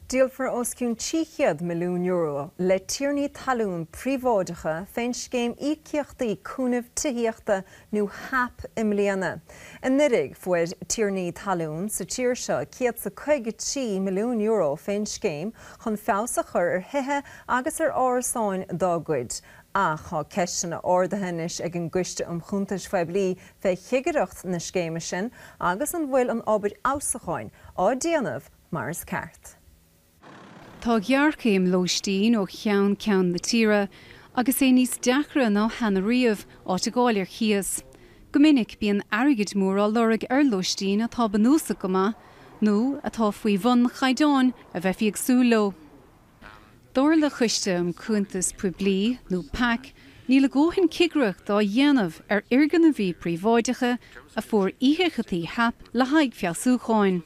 Díolfar os cionn €300 milliún le tiarnaí talún príobháideacha fén Scéim Íocaíochtaí Cúnaimh Tithíochta nó HAP i mbliana. Anuiridh, fuair tiarnaí talún sa tír seo €153 milliún fén scéim chun feabhas a chur ar thithe agus ar árasáin dá gcuid, ach tá ceisteanna ardaithe anois ag an gCoiste um Chuntais Phoiblí fé chigireacht na scéime sin agus an bhfuil an obair fheabhsúcháin á déanamh mar is ceart. Tá géarchéim lóistín ó cheann ceann na tíre agus é níos deacra ná cheana riamh áit a ghabháil ar chíos. Go minic bíonn airgid mór á lorg ar lóistín atá bunúsach go maith nó atá faoi bhun na gcaighdeán a bheifí ag súil leo. Dar le Coiste um Chuntais Phoiblí, nó PAC, níl a ndóthain cigireacht á dhéanamh ar fhoirgnimh príobháideacha a fuair íocaíochtaí HAP le haghaidh feabhsúcháin.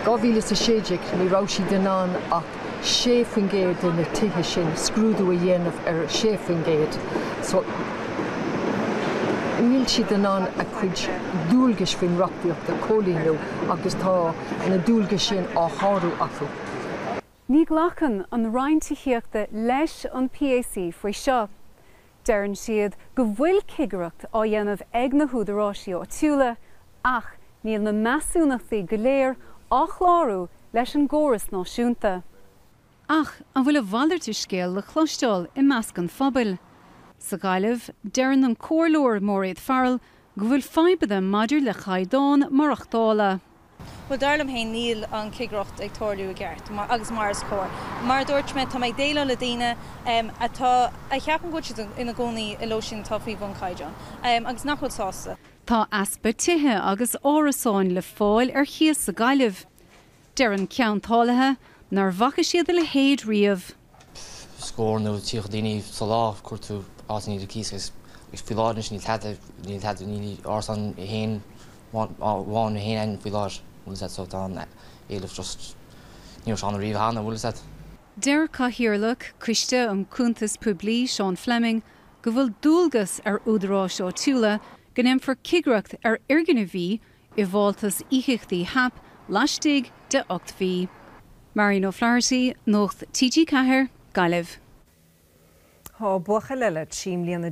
2016 ní raibh siad in ann ach 6% de na tithe sin, scrúdú a dhéanamh ar 6%, so níl siad in ann a gcuid dualgais faoin reachtaíocht a chomhlíonadh agus tá na dualgais sin á shárú acu. Ní ghlacann an Roinn Tithíochta leis an PAC faoi seo. Deireann siad go bhfuil cigireacht á dhéanamh ag na húdarásaí áitiúla ach níl na measúnachtaí go léir á chlárú leis an gcóras náisiúnta. Ach an bhfuil a mhalairt de scéal le cloisteáil i measc an phobail? Sa Ghaillimh, deireann an Comhairleoir Máiréad Farrell go bhfuil fadhbanna maidir le caighdeán maireachtála. Bhuel, dar liom féin, níl an chigireacht ag tarlú i gceart agus mar is cóir. Mar a dúirt mé, tá mé ag déileáil le daoine atá, a cheapann go bhfuil siad ina gcónaí i lóistín atá faoi bhun caighdeán, agus nach bhfuil sásta. Tá easpa tithe agus árasáin le fáil ar chíos sa Ghaillimh. Deir ceantálaithe nach bhfaca siad a leithéid riamh. scór nó tríocha daoine sa lá cuir tú áit ar cíos agus faoi láthair anois níl tada níl tada níl árasán aon cheann amháin aon cheann faoi láthair an bhfuil a fhios agat so tá an t-éileamh just ní raibh sé ann riamh cheana an bhfuil a fhios agat. Deir Cathaoirleach Coiste um Chuntais Phoiblí Seán Fleming go bhfuil dualgas ar Údaráis Áitiúla go ndéanfar cigireacht ar fhoirgnimh bhí i bhfáltas íocaíochtaí HAP laistigh de ocht mhí. Marian O'Flaherty, Nuacht TG4, Gaillimh. Tá buachaill eile trí mbliana